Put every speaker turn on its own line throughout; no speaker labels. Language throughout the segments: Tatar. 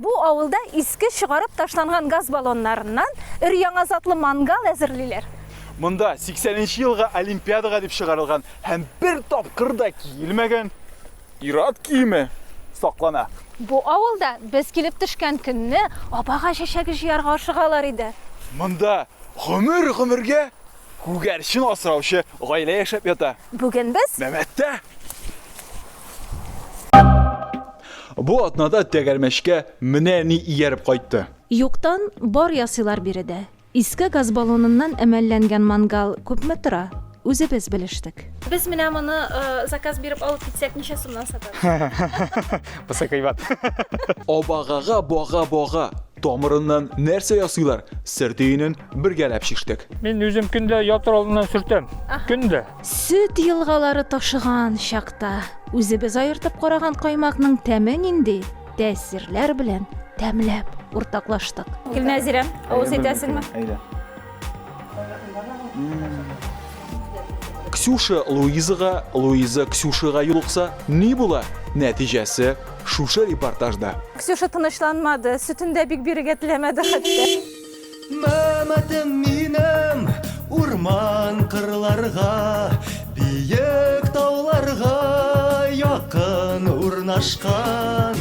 Бу авылда иске чыгарып ташланган газ баллоннарыннан өр яңа затлы мангал әзерлиләр. Монда
80 елга олимпиадага дип чыгарылган һәм бер тапкыр да киелмәгән ират киеме саклана. Бу авылда
без килеп төшкән көнне абага чәчәге җыярга ашыгалар иде. Монда
гомер-гомергә Күгәрчен асраучы гаилә яшәп ята. Бүген без Мәмәттә. Бу атнада тәгәрмәчкә менә ни ияреп кайтты. Юктан
бар ясыйлар биредә. Иске газ баллоныннан әмәлләнгән мангал күпме тора? Үзебез белештек. Без менә моны заказ биреп алып китсәк, ничә сумнан сатабыз? Бусы кыйбат.
Абагага
бага-бага. Тамырыннан нәрсә ясыйлар? Сер төенен бергәләп чиштек. Мин үзем көндә
ятыр алдыннан сөртәм. Көндә. Сөт
елгалары ташыган чакта үзебез аертып караган каймакның тәме нинди? Тәэсирләр белән тәмләп уртаклаштык. Гөлнәзирәм, авыз итәсеңме? Әйдә.
Ксюша Луизага, Луиза Ксюшага юлыкса, ни була? Нәтиҗәсе шушы репортажда. Ксюша тынычланмады,
сөтендә бик бирегә теләмәде хәтта. Мәмәтем
минем урман кырларга, биек тауларга якын урнашкан.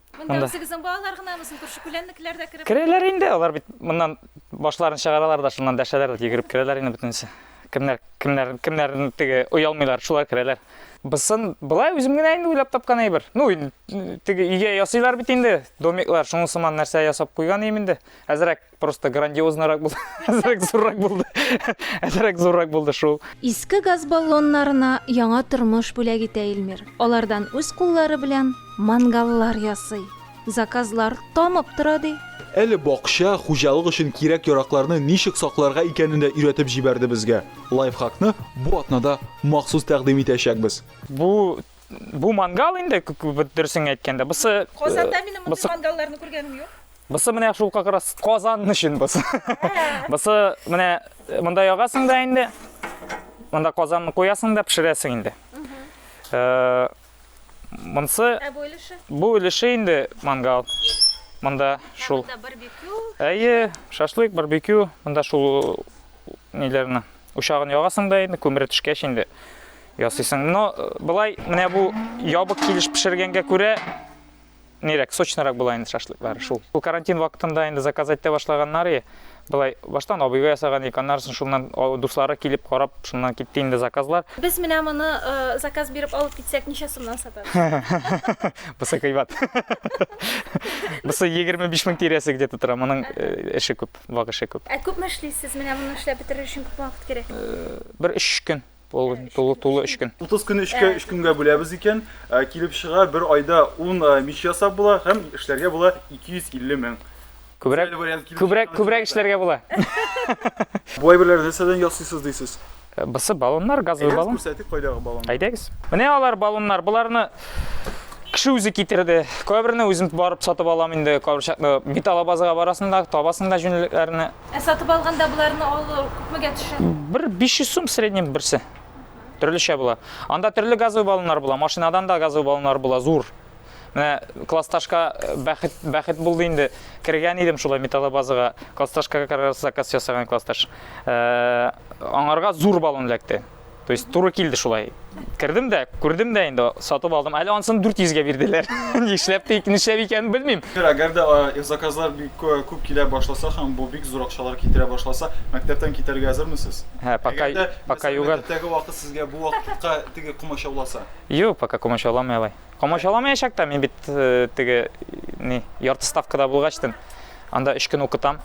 Монда Монда. үзегезнең
балалар гынамы, соң күрше-күләннекеләр дә кереп? Керәләр инде, алар бит
моннан башларын чыгаралар да шуннан дәшәләр дә йөгереп керәләр инде бөтенесе. Кемнәр, кемнәр, кемнәр теге оялмыйлар, шулар керәләр. Бысын болай үзем генә инде уйлап тапкан әйбер. Ну, ин- теге өйгә ясыйлар бит инде, домиклар, шуның сыман нәрсә ясап куйган ием инде. Әзрәк Просто грандиозныйрак булды. Әзрәк зуррак булды. Әзрәк зуррак булды шул. Иске газ
баллоннарына яңа тормыш бүләк итә Илмир. Алардан үз куллары белән мангаллар ясый. Заказлар тамып тора, ди. Әле бакча,
хуҗалык өчен кирәк-яракларны ничек сакларга икәнен дә өйрәтеп җибәрде безгә. Лайфхакны бу атнада махсус тәкъдим итәчәкбез. Бу
Бу мангал инде, дөресен әйткәндә. Бусы Казанда э, минем мондый
мангалларны күргәнем юк. Бусы менә шул как
раз Казан өчен бусы. Бусы менә э, монда ягасың да инде. Монда Казанны куясың да пешерәсең инде. Э, монсы Ә бу өлеше? Бу өлеше инде мангал. Монда шул. Монда барбекю.
Әйе,
шашлык, барбекю. Монда шул ниләрне. Учагын ягасың да инде, күмер төшкәч инде. ясыйсың. Но былай менә бу ябык килеш пешергәнгә күрә нирәк, сочнырак була инде шашлыклар шул. Бу карантин вакытында инде заказать итә башлаганнар и былай баштан абыйга ясаган ик, аннарысын шуннан дуслары килеп карап, шуннан китте инде заказлар. Без менә моны
э, заказ биреп алып китсәк, ничә сумнан сатабыз?
Бусы кыйбат. Бусы 25 мең тирәсе где-то тора, моның э, эше күп, вак эше күп. Ә күпме эшлисез? Менә
моны эшләп бетерер өчен күп вакыт кирәк. Э, бер 3
көн. Ул тулы тулы 3 көн. 30 көн 3 көн 3 көнгә
бүләбез икән, э, килеп чыга бер айда 10 э, мич ясап була һәм эшләргә була 250 мең. Күбрәк күбрәк күбрәк
эшләргә була.
Бу әйберләрне нәрсәдән ясыйсыз дисез? Э, Бысы баллоннар,
газовый баллон. Күрсәтик кайдагы баллон.
Әйдәгез. Менә алар
баллоннар. Боларны кеше үзе китерде. Кайберне үзем барып сатып алам инде, кайбер чакны бит алабазга барасында, табасында җүнлекләрне. Ә
сатып алганда боларны алу күпмегә төшә? Бер 500 сум
в среднем берсе. Төрлечә була. Анда төрле газовый баллоннар була, машинадан да газовый баллоннар була, зур. Менә классташка э, бәхет, бәхет булды инде. Кергән идем шулай металлобазага. Классташка как раз заказ ясаган классташ. Э, аңарга зур баллон эләкте. То есть туры килде шулай. Кердем дә, күрдем дә инде, сатып алдым. Әле ансын 400 га бирделәр. Нишләп тик, нишләп икәнен белмим. Әгәр дә
заказлар бик күп килә башласа һәм бу бик зур акчалар китерә башласа, мәктәптән китәргә әзермесез? Һә, пока пока
юга. Мәктәптәге вакыт сезгә бу
вакытка теге комачауласа. Юк, пока
комачауламый алай. Комачауламаячак та, мин бит э, теге ни, ярты ставкада булгачтын. Анда 3 көн укытам.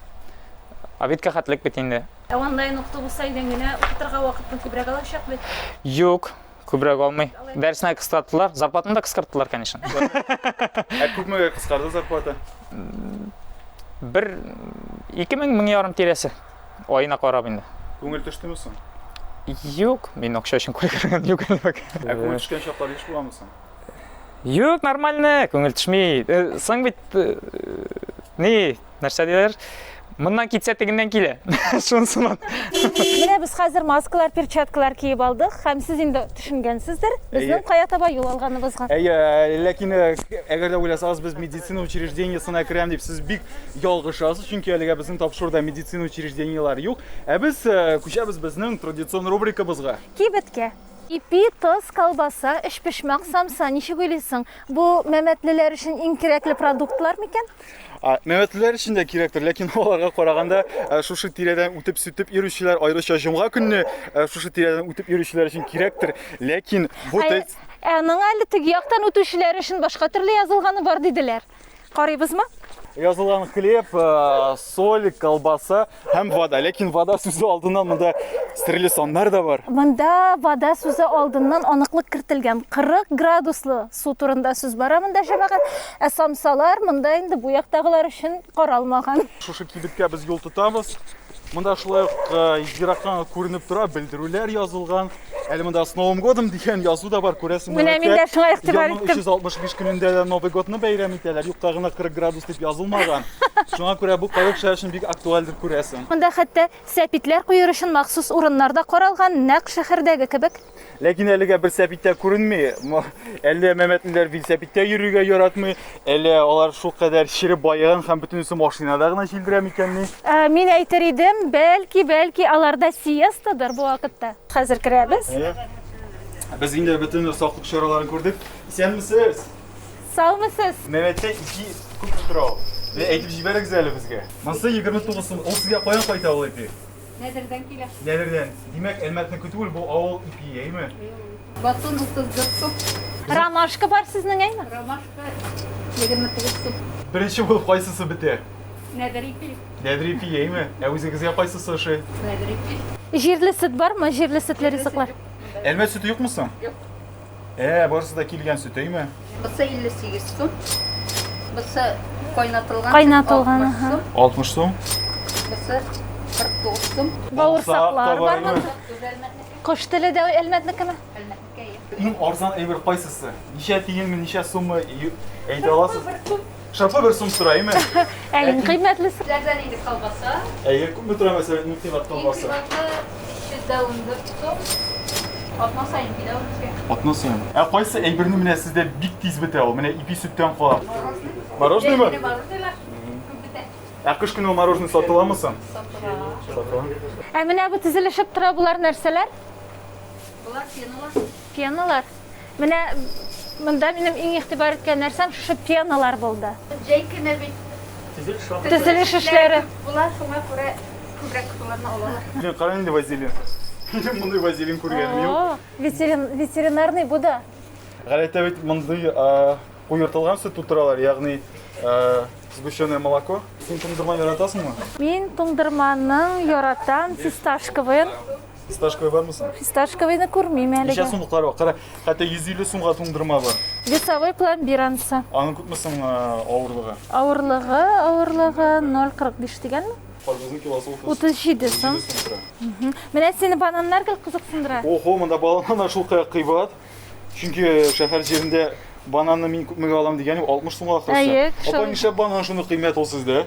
Обедка хәтлек бит инде. Ә онлайн укыту булса,
өйдән генә укытырга вакытны күбрәк алачак бит. Юк,
күбрәк алмый. Дәресне кыскарттылар, зарплатаны да кыскарттылар, конечно. Ә
күпме кыскарды зарплата? Бер
2000 мең ярым тирәсе. Аена карап инде. Күңел төштеме соң?
Юк,
мин акча өчен кайгырган юк әле. Ә күңел төшкән чаклар
еш буламы соң? Юк,
нормально, күңел төшми. Э, соң бит э, ни, нәрсә диләр? Моннан китсә тегеннән килә. Шунсыман. Менә
без хәзер маскалар, перчаткалар киеп алдык һәм сез инде төшенгәнсездер, безнең кая таба юл алганыбызга. Әйе, ләкин
әгәр дә уйласагыз, без медицина учреждениесенә керәм дип, сез бик ялгышасыз, чөнки әлегә безнең тапшыруда медицина учреждениеләре юк. Ә без күчәбез безнең традицион рубрикабызга. Кибеткә.
Ипи, тоз, колбаса, өчпочмак, самса, ничек уйлыйсың, бу мәмәтлеләр өчен иң кирәкле продуктлар микән? Мәмәтлеләр
өчен дә кирәктер, ләкин аларга караганда э, шушы тирәдән үтеп сүтеп йөрүчеләр, аеруча җомга көнне э, шушы тирәдән үтеп йөрүчеләр өчен кирәктер, ләкин бу тест... Ә, ә моңа әле
теге яктан үтүчеләр өчен башка төрле язылганы бар диделәр. Карыйбызмы? Язылган
хлеб, э, соль, колбаса, Һәм вода, ләкин вода сүзе алдыннан монда серле саннар да бар. Монда вода
сүзе алдыннан аныклык кертелгән. 40 градуслы су турында сүз бара монда җәмәгать. Ә самсалар монда инде бу яктагылар өчен каралмаган. Шушы кибеткә без
юл тотабыз. Монда шулай ук э, ерактан күренеп тора, белдерүләр язылган. Әле монда с Новым годом дигән язу да бар, күрәсең. Менә мин дә шуңа игътибар
иттем. 365 көнендә дә
Новый годны бәйрәм итәләр. Юкта гына 40 градус дип язылмаган. Шуңа күрә бу кайбер кешеләр өчен бик актуальдер күрәсең. Монда хәтта
сәпитләр куер өчен махсус урыннар да каралган, нәкъ шәһәрдәге кебек. Ләкин әлегә бер
сәпит тә күренми. Әллә мәмәтлеләр бил сәпиттә йөрергә яратмый, Әле алар шул кадәр чиреп баеган һәм бөтенесе машинада гына җилдерә микәнни? Ә, мин әйтер
идем, бәлки, бәлки аларда сиестадыр бу вакытта. Хәзер керәбез. Әйе.
Без инде бөтен саклык чараларын күрдек. Исәнмесез? Саумысыз?
Мәмәттә ике
күп тора ул. Әйтеп җибәрегез әле безгә. Монсы 29 сум. Ул сезгә каян кайта ул әти?
Нәдердән килә. Нәдердән. Димәк,
Әлмәтне көтү ул бу авыл ипи, әйме? Батон 34
сум. Ромашка бар
сезнең, әйме? Ромашка
28 сум. Беренче булып кайсысы
бетә?
Нәдер ипи. Нәдер ипи, әйме?
Ә үзегезгә кайсысы ошый? Нәдер ипи.
Җирле сөт бармы?
Җирле сөтле ризыклар. Әлмәт сөте юкмы
соң? Юк.
Ә, барысы
да килгән сөт, әйме? Бусы 58
сум. Бусы кайнатылган. Кайнатылган,
аха. 60 сум. Бусы 49
сум. Бавырсаклар бармы? Кош теле дә
әлмәтнекеме? Әлмәтнекә.
Иң арзан
әйбер кайсысы? Ничә тиенме, ничә суммы әйтә аласыз? Шартлы бер сум сораймы? Ә иң кыйммәтлесе?
Ләрдән инде колбаса.
Әйе, күпме тора
мәсәлән иң кыйммәт колбаса? Иң кыйммәтле 314
сум. Атна саен килә ул безгә. Атна саен. Ә
кайсы әйберне менә сездә бик тиз бетә ул? Менә ипи сөттән кала. Мороженое ма? Ә кыш көне мороженое сатыламы соң? Сатыла. Сатыла. Ә менә
бу тезелешеп тора булар нәрсәләр?
Булар фенолар. Пеналар.
Менә монда минем иң игътибар иткән нәрсәм шушы пеналар булды. Җәй көне
бит төзелеш
эшләре күп була, шуңа
күрә күбрәк кызларны алалар. Менә караң инде вазелин.
Минем мондый вазелин күргәнем юк. О-о, ветерин, ветеринарный
бу да. Гадәттә бит
мондый куертылган сөт тутыралар, ягъни сгущенное молоко. Син туңдырма яратасыңмы? Мин
туңдырманың яратам, фисташковыен. Фисташковый
бармы соң? Фисташковыйны күрмим
әлегә. Ничә сумлыклар бар? Кара,
хәтта 150 сумга туңдырма бар. Весовой пломбир
анысы. Аның күпме соң
авырлыгы? Авырлыгы,
авырлыгы 0.45 дигәнме?
Карбызның килосы 37 сум.
Менә сине бананнар гел кызыксындыра. Охо, монда бананнар
шул кая кыйбат. Чөнки шәһәр җирендә бананны мин күпмегә алам дигән 60 сумга ахрысы. Әйе, Апа, нишләп банан шуны кыйммәт ул сездә?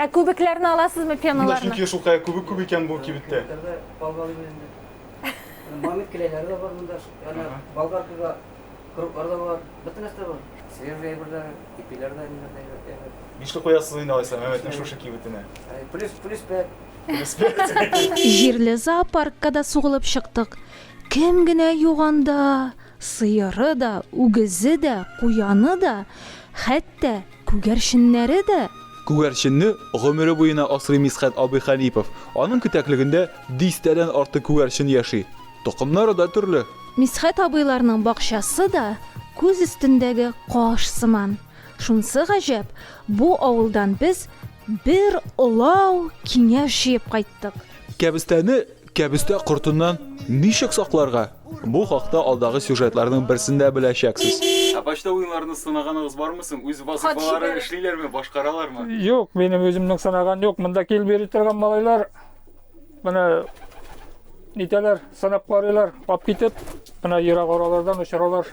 Ә күбекләрне аласызмы,
пеналарны? Шунда чөнки шул
кая күбек
күп
икән бу кибеттә. Мамит келәйләре
дә бар монда. Ана болгаркага круглар да бар. Бөтен нәрсә бар. Свежие әйберләр, ипиләр дә инде әйбер. Нишле куясыз
инде алайса Мәмәтнең шушы кибетенә? Плюс
плюс 5. Плюс 5. Җирле
зоопаркка да сугылып чыктык. Кем генә юк анда! Сыеры да, үгезе дә, куяны да, хәтта Күгәрченнәре дә? Күгәрченне
гомере буена асрый Мисхәт абый Хәлипов. Аның кетәклегендә дистәдән артык күгәрчен яши. Токымнары да төрле. Мисхәт абыйларның
бакчасы да күз өстендәге каш сыман. Шунсы гаҗәп, бу авылдан без бер олау киңәш җыеп кайттык. Кәбестәне
Кәбестә кортыннан ничек сакларга? Бу хакта алдагы сюжетларның берсендә беләчәксез. Ә почта уеннарын сынаганыгыз бармы соң? Үз вазыйфаларын эшлиләрме, башкаралармы? Юк, минем
үземнең сынаган юк. Монда килеп йөри торган малайлар менә нитәләр, сынап карыйлар, алып китеп, менә ерак аралардан очыралар.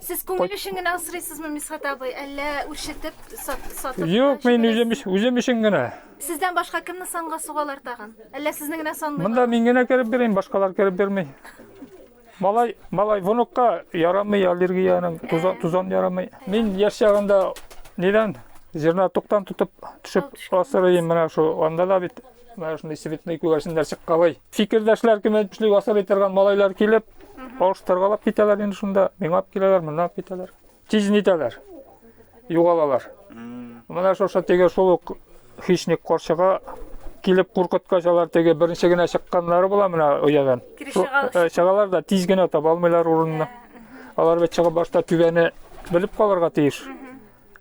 Сез күңел өчен генә асрыйсызмы, Мисхат абый, әллә үрчетеп сатып? Юк, мин үзем,
үзем өчен генә. Сездән башка кемне
санга сугалар тагын? Әллә сезне генә санлыйлар? Монда мин генә кереп бирәм,
башкалар кереп бирмей. Малай, малай внукка ярамый аллергияның, тузан, тузан ярамый. Мин яшь чагында нидән зерна туктан тотып төшеп асырыйм менә шул. Анда да бит менә шундый цветный күгәрченнәр чыккалый. Фикердәшләр кем әйтмешли асырый торган малайлар килеп, алыштыргалап китәләр инде шунда. Миңа алып киләләр, моннан алып китәләр. тиз нитәләр, югалалар. Менә шушы теге шул ук хищник каршыга килеп куркыткач алар теге беренче генә чыкканнары була менә оядан э, чыгалар да тиз генә таба алмыйлар урынны алар бит чыгып башта түбәне белеп калырга тиеш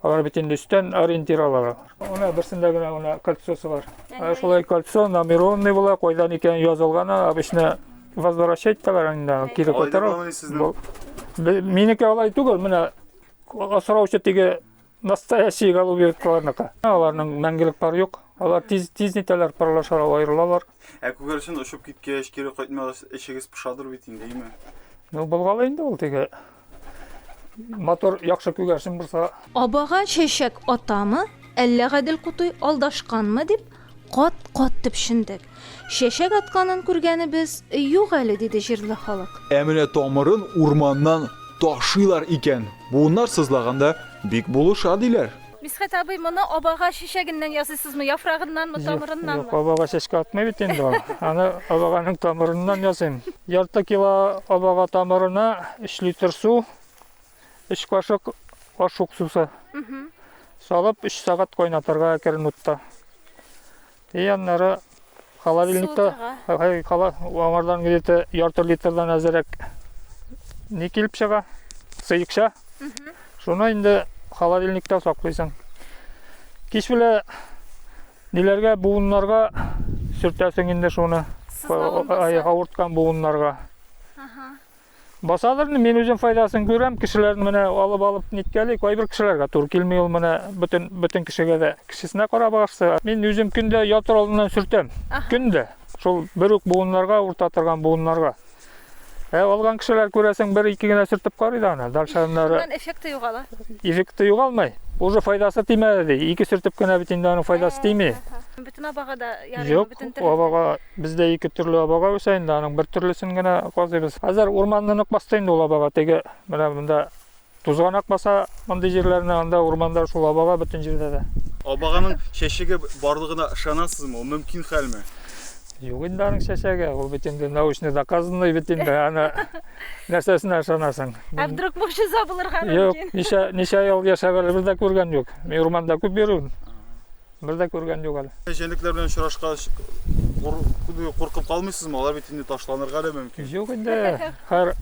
алар бит инде өстән ориентир алалар менә берсендә генә менә кольцосы бар шулай кольцо номерованный була кайдан икәнен язылган обычно Возвращать тәләр инде, кире кайтару. Минеке алай түгел, менә асраучы теге настоящий голубь кыларныкы. Аларның мәңгелек пар юк. Алар тиз тиз нитәләр парлашар, аерылалар. Ә күгәрчен очып
киткәч, кире кайтмагач, эчегез пошадыр бит инде, име? Ну, болгалы
инде ул теге Мотор яхшы күгәрчен булса. Абага чәчәк
атамы, әллә Гадел Кутуй алдашканмы дип, кат-кат төпчендек. Чәчәк атканын күргәнебез юк әле, диде җирле халык. Ә менә тамырын
урманнан ташыйлар икән, буыннар сызлаганда бик булыша, диләр. Мисхәт абый, моны
абага чәчәгеннән ясыйсызмы, яфрагыннанмы, тамырыннанмы? Юк, абага чәчкә
атмый бит инде ул. Аны абаганың тамырыннан ясыйм. Ярты кило абага тамырына 3 литр су, 3 кашык аш уксусы салып, 3 сәгать кайнатырга керен утта. И аннары холодильникта кала аңардан где-то ярты литрдан әзерәк не килеп чыга, сыекча. Шуны инде холодильникта саклыйсың. Кич белән ниләргә буыннарга сөртәсең инде шуны. Авырткан буыннарга. Басадыр, мин үзем файдасын күрәм, кешеләрне менә алып алып ниткәли, кайбер кешеләргә тур килми ул менә бөтен бөтен кешегә дә кешесенә карап агышса. Мин үзем көндә ятыр алдыннан сүртәм. Көндә. Шул бер үк буыннарга, урта торган буыннарга. Ә алган кешеләр күрәсең, бер ике генә сүртеп карый да аны. Дальше аннары. Моннан эффекты югала.
Эффекты югалмый.
Уже файдасы тимәде ди. Ике сүртеп кенә бит инде аның файдасы тими. Бөтен абага
да ярый, бөтен төр. Юк, абага Бездә
ике төрле абага үсә инде, аның бер төрлесен генә казыйбыз. Хәзер урманны нык басты инде ул абага. Теге менә монда тузганак баса мондый җирләрне, анда урманда шул абага бөтен җирдә дә. Абаганың
чәчәге барлыгына ышанасызмы? Ул мөмкин хәлме? Юк инде
аның чәчәге, ул бит инде научный доказанный бит инде, аны нәрсәсенә ышанасың? Ә вдруг могҗиза
булырга мөмкин? Юк, ничә
ничә ел
яшәп әле
бер дә күргән юк. Мин урманда күп йөрим. Бер дә күргән юк әле. Җәнлекләр белән очрашкач,
куркып калмыйсызмы? Алар бит инде ташланырга да мөмкин. Юк инде,
һәр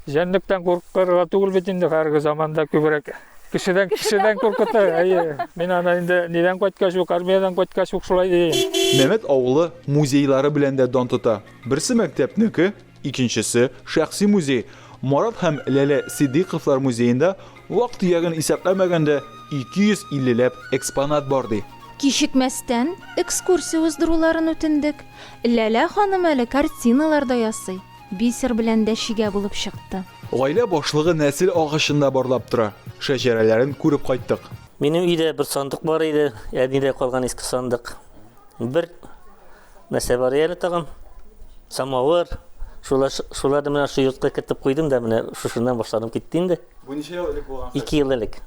җәнлектән куркырга түгел бит инде хәзерге заманда күбрәк. Кешедән кешедән куркыта. Әйе. Мин аны инде нидән кайткач ук, армиядән кайткач ук шулай дим. Мәмәт
авылы музейлары белән дә дан тота. Берсе мәктәпнеке, Икенчесе, шәхси музей, Марат һәм Ләлә Сиддыйковлар музеенда, вак-төягын исәпләмәгәндә, 250 ләп экспонат бар, ди. Кичекмәстән
экскурсия уздыруларын үтендек. Ләлә ханым әле картиналар да ясый, бисер белән дә чигә булып чыкты. Гаилә башлыгы
нәсел агачын да барлап тора, шәҗәрәләрен күреп кайттык. Минем өйдә бер
сандык бар иде, әнидән калган иске сандык. Бер Нәрсә бар әле тагын? Самавыр. Шулар шуларны менә шу йортка кертеп куйдым да менә шушыннан башланып китте инде. Бу ничә
ел элек
булган? 2 ел элек.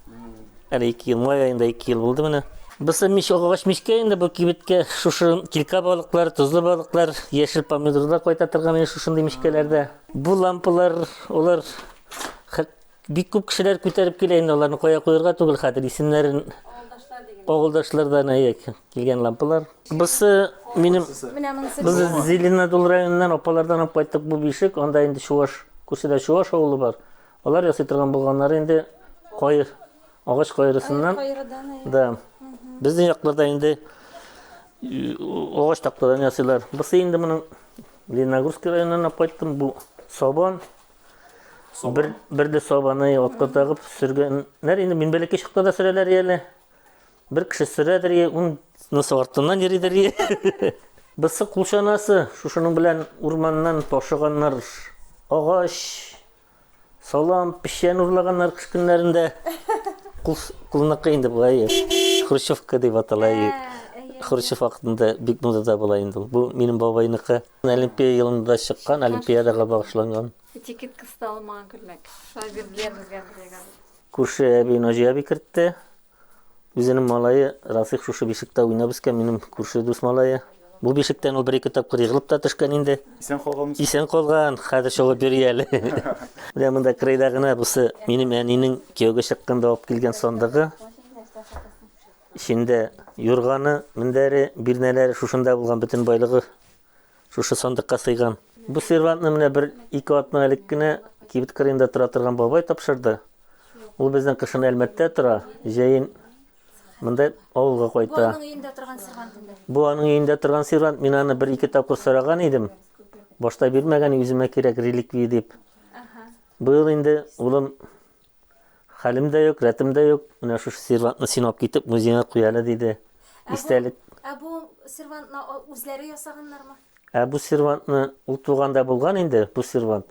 Әле 2 ел май аенда 2 ел булды менә. Бусы мич агач мичкә инде бу кибеткә шушы килка балыклар, тозлы балыклар, яшел помидорлар кайта торган инде шушындый мичкәләрдә. Бу лампалар, алар Бик күп кешеләр күтәреп килә инде аларны кая куярга түгел хәзер исемнәрен авылдашлардан әйе килгән лампалар. Бусы минем без Зеленодол районыннан апалардан алып кайттык бу бишек, анда инде чуваш, күршедә чуваш авылы бар. Алар ясый торган булганнары инде кайыр, агач кайрысыннан. Да. Безнең якларда инде агач тактадан ясыйлар. Бусы инде моның Лениногорск районыннан алып кайттым, бу сабан. Бер, бер дә сабаны отка тагып сөргәннәр. Инде мин бәләкәй чакта да сөрәләр әле. Бер кеше сөрәдер, ун насыл артыннан йөридер. Бысы кулчанасы, шушының белән урманнан ташыганнар. Агач, салам, печән урлаганнар кыш көннәрендә. Кул, кулныкы инде болай. Хрущевка дип атала. Хрущев вакытында бик модада була инде. Бу минем бабайныкы. Олимпия елында чыккан, олимпиадага багышланган. Этикетка
салмаган күлмәк. Шулай бирделәр безгә бергә. Күрше әби
Наҗия әби кертте. Үзенең малае Рафик шушы бишектә уйнап үскән, минем күрше дус малае. Бу бишектән ул бер-ике тапкыр егылып та төшкән инде. Исән калган. Исән калган, хәзер чабып йөри әле. Менә монда кырыйда гына бусы минем әнинең кияүгә чыкканда алып килгән сандыгы. Эчендә юрганы, мендәре, бирнәләре шушында булган, бөтен байлыгы шушы сандыкка сыйган. Бу сервантны менә бер ике атна элек кенә кибет кырыенда тора торган бабай тапшырды. Ул безнең кышын Әлмәттә тора, җәен монда авылга кайта. Бу аның өендә торган сервант инде. Бу аның өендә торган сервант, мин аны бер ике тапкыр сораган идем. Башта бирмәгән, үземә кирәк реликвия дип. Быел инде улым Хәлем дә юк, рәтем дә юк. Менә шушы сервантны синап китеп, музейга куя әле, диде. Истәлек. Ә бу
сервантны үзләре ясаганнармы? Ә бу сервантны
ул туганда булган инде, бу сервант.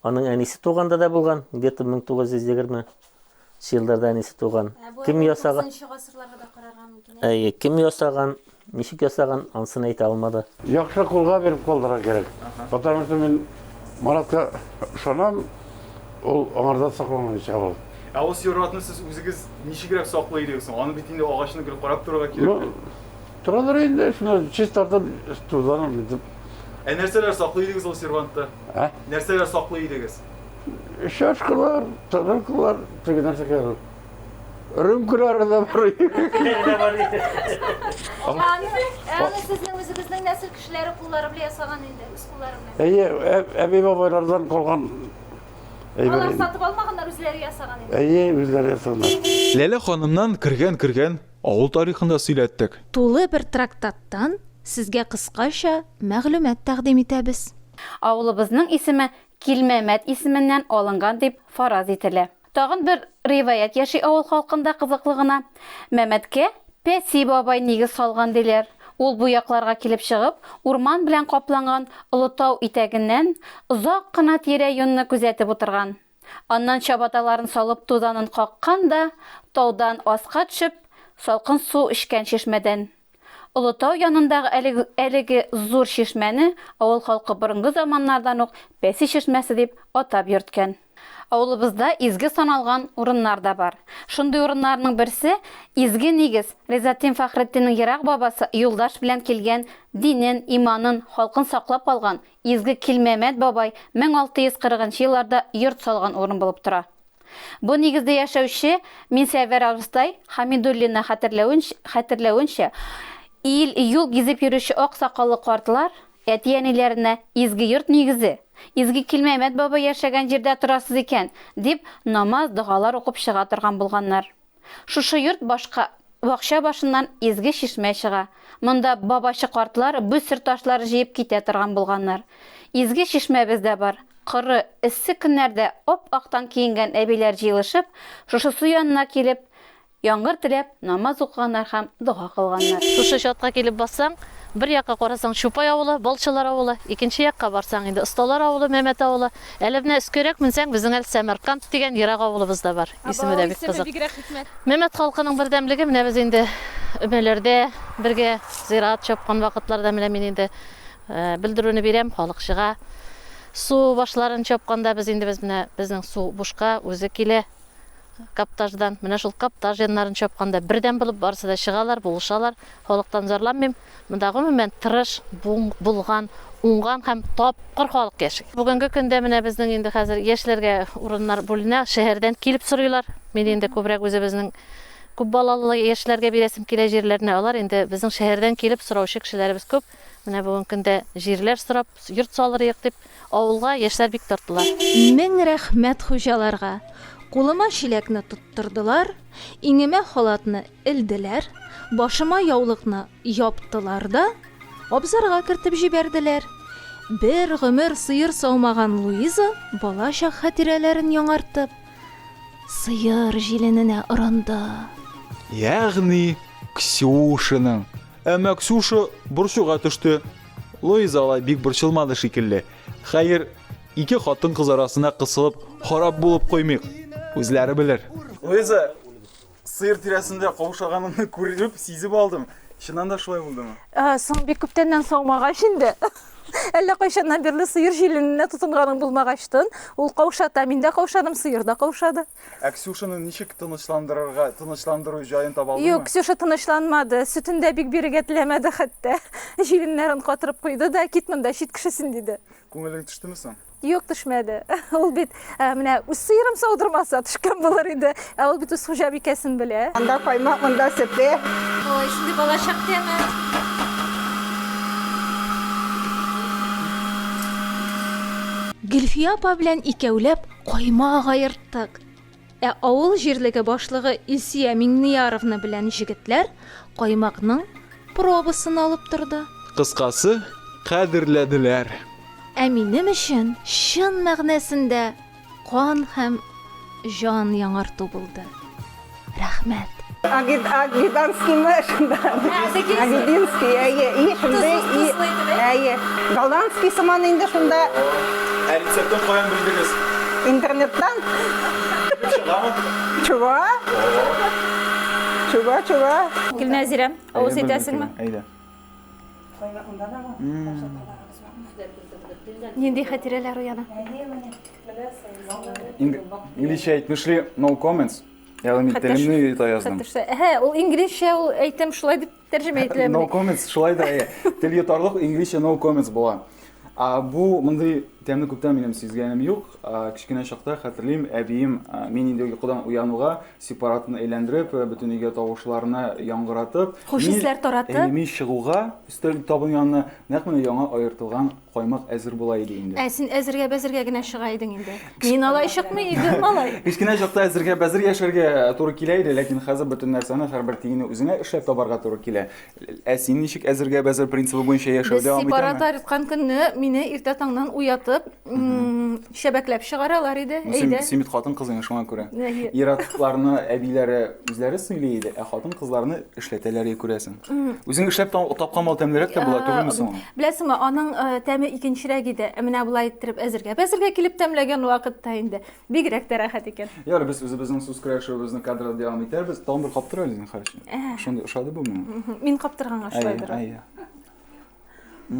Аның әнисе туганда да булган, где-то 1920 елларда әнисе туган. Ә бу кем ясаган? 9 гасырларга да карарга мөмкин. Әйе, кем ясаган? Ничек ясаган, ансын әйтә алмады. Яхшы кулга биреп
калдырга кирәк. Потому что мин Маратка ышанам, ул аңарда сакланган ич авыл. Ә ул сиратны
сез үзегез ничегрәк саклый идегез соң? Аны бит инде агачны гел карап торырга кирәк. Ну, торадыр
инде, шуны чистартып, тузанып битеп. Ә нәрсәләр
саклый идегез ул сервантта? Ә? Нәрсәләр саклый идегез? Чашкалар,
тарелкалар, теге нәрсә кирәк. Рюмкалары да бар. Аңа- Аны
аны сезнең үзегезнең нәсел кешеләре куллары белән ясаган инде, үз куллары белән. Әйе, ә- әби-бабайлардан
калган әйбер.
Алар инде. сатып алмаганнар, үзләре ясаган инде. Әйе, үзләре ясаган.
Ләлә ханымнан
кергән-кергән авыл тарихын да сөйләттек. Тулы бер
трактаттан сезгә кыскача мәгълүмат тәкъдим итәбез. Авылыбызның
исеме Килмәмәт исеменнән алынган дип фараз ителә. Тагын бер риваять яши авыл халкында кызыклы гына. Мәмәткә Пәси бабай нигез салган диләр. Ул бу якларга килеп чыгып, урман белән капланган олы тау итәгеннән озак кына тирә-юньне күзәтеп утырган. Аннан чабаталарын салып тузанын каккан да, таудан аска төшеп, салкын су эчкән чишмәдән. Олытау янындагы әлеге, әлеге зур чишмәне авыл халкы борынгы заманнардан ук Пәси чишмәсе дип атап йөрткән. Авылыбызда изге саналган урыннар да бар. Шундый урыннарның берсе, изге нигез, Ризатдин Фәхретдиннең ерак бабасы юлдаш белән килгән, динен, иманын, халкын саклап калган, изге Килмәмәт бабай 1640 нчы елларда йорт салган урын булып тора. Бу нигездә яшәүче Минсәвәр абыстай Хамидуллинны хәтерләвенчә, ил-юл гизеп йөрүче ак сакаллы картлар әти-әниләренә Изге йорт нигезе, Изге Килмәмәт бабай яшәгән җирдә торасыз икән, дип намаз-догалар укып чыга торган булганнар. Шушы йорт башка бакча башыннан изге чишмә чыга. Монда бабачы картлар бүсер ташлар җыеп китә торган булганнар. Изге чишмәбез дә бар. Коры, эссе көннәрдә ап-актан киенгән әбиләр җыелышып, шушы су янына килеп, яңгыр теләп, намаз укыганнар һәм дога кылганнар. Шушы чатка килеп
бассаң, бер якка карасаң, Чупай авылы, Балчылар авылы, икенче якка барсаң, инде Осталар авылы, Мәмәт авылы. Әле менә өскәрәк менсәң, безнең әле Сәмәрканд дигән ерак авылыбыз да бар. Исеме дә бик кызык. Мәмәт халкының бердәмлеге менә без инде өмәләрдә бергә зират чапкан вакытларда менә мин инде белдерүне бирәм, халык чыга. Су башларын чапканда без инде без менә безнең су бушка үзе килә каптаждан. Менә шул каптаж яннарын чапканда бердәм булып барысы да чыгалар, булышалар. Халыктан зарланмыйм. Монда гомумән тырыш, булган, уңган һәм тапкыр халык яши. Бүгенге көндә менә безнең инде хәзер яшьләргә урыннар бүленә, шәһәрдән килеп сорыйлар. Мин инде күбрәк үзебезнең күп балалылы яшьләргә бирәсем килә җирләрне, алар инде безнең шәһәрдән килеп сораучы кешеләребез күп. Менә бүгенге көндә җирләр сорап, йорт салырыек дип, авылга яшьләр бик тартыла. Мең рәхмәт
хуҗаларга! Кулыма чиләкне тоттырдылар, иңемә халатны Элделәр, башыма яулыкны яптылар да, абзарга кертеп җибәрделәр. Бер гомер сыер саумаган Луиза, балачак хатирәләрен яңартып, сыер җилененә орынды. Ягъни
Ксюшаның. Әмма Ксюша борчуга төште. Луиза алай бик борчылмады шикелле. Хәер, ике хатын-кыз арасына кысылып, харап булып куймыйк. Үзләре белер. Луиза, Сыер тирәсендә каушаганымны күреп, сизеп алдым. Чыннан да шулай булдымы? Ә, соң бик күптәннән
саумагач инде. Әллә кайчаннан бирле сыер җилененә тотынганың булмагачтын, ул каушата. Мин дә каушадым, сыер да каушады. Ә Ксюшаны ничек
тынычландырырга, тынычландыру җаен таба алдыңмы? Юк, Ксюша тынычланмады.
Сөтен дә бик бирергә теләмәде хәтта. Җиленнәрен катырып куйды да, кит монда, чит кешесен, диде. Күңелең төштеме соң?
Юк, төшмәде.
Ул бит ә, менә үз сыерым саудырмаса төшкән булыр иде. Ә ул бит үз хуҗабикәсен белә. Анда каймак, монда
сөте. Ой, шундый
балачак тәме. Гөлфия апа белән икәүләп каймак аерттык. Ә авыл җирлеге башлыгы Илсөя Миңнияровна белән җегетләр каймакның пробасын алып торды. Кыскасы,
кадерләделәр. Ә
минем өчен чын мәгънәсендә кан һәм җан яңарту булды. Рәхмәт! Агид,
Агиданский мы шунда. Агидинский, әйе. И шунда и әйе. Голландский сыман инде шунда. Ә рецептын
каян белдегез? Интернеттан.
Чыгамы? Чыга. Чыга,
чыга. Гөлнәзирә, авыз итәсеңме? Әйдә. Нинди хәтирәләр уяна?
Инглишчә әйтмешли, no comments. Ягъни мин Хәтәш- телемне йота яздым. Хәтәшсә, әһә, ул инглизчә
ул әйтем шулай дип тәрҗемә ителә. No менә. comments, шулай да
әйе. Тел йотарлык инглизчә no comments була. А, бу мондый тәмне күптән минем сизгәнем юк. А, кечкенә чакта хәтерлим, әбием а, мин инде йокыдан уянуга сепаратны әйләндереп, э, бөтен өйгә тавышларны яңгыратып, Хуш мин- исләр таратып.
Әйе, мин чыгуга
өстәл табын янына нәкъ менә яңа аертылган Каймак әзер була иде инде. Ә син әзергә бәзергә
генә чыга идең инде. Мин алай чыкмый идем, малай. Кечкенә чакта әзергә
бәзер яшәргә туры килә иде, ләкин хәзер бөтен нәрсәне, һәрбер тиенне үзеңә эшләп табарга туры килә. Ә син ничек әзергә бәзер принцибы буенча яшәү дәвам итәме? Без сепараторь тоткан көнне
мине иртә таңнан уятып, Чәбәкләп чыгаралар иде, ну, әйдә. Син бит хатын-кыз инде шуңа
күрә. Ир-атларны әбиләре үзләре сөйли иде, ә хатын-кызларны эшләтәләр иде күрәсең. Үзең эшләп тапкан мал тәмлерәк тә була түгелме соң? Беләсеңме, аның
тәме икенчерәк иде. Ә менә болай иттереп әзергә, әзергә килеп тәмләгән вакытта инде бигрәк тә рәхәт икән. Ярый, без үзебезнең сүз
көрәшүебезне кадрда дәвам итәрбез. Тагын бер каптыр әле, зинһар өчен. Шундый ошады бу миңа. Мин каптырганга
шулайдыр. Әйе, әйе.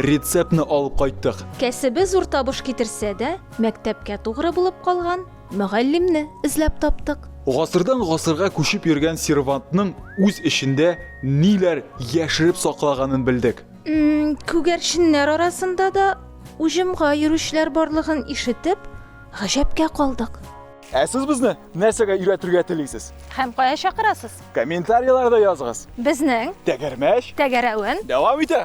Рецептны алып кайттык. Кәсебе зур табыш
китерсә дә, мәктәпкә тугры булып калган мөгаллимне эзләп таптык. Гасырдан гасырга
күчеп йөргән сервантның үз эчендә ниләр яшереп саклаганын белдек. Күгәрченнәр
арасында да уҗымга йөрүчеләр барлыгын ишетеп, гаҗәпкә калдык. Ә сез безне
нәрсәгә өйрәтергә телисез? Һәм кая чакырасыз?
Комментарийларда языгыз. Безнең
Тәгәрмәч
тәгәрәвен
дәвам итә.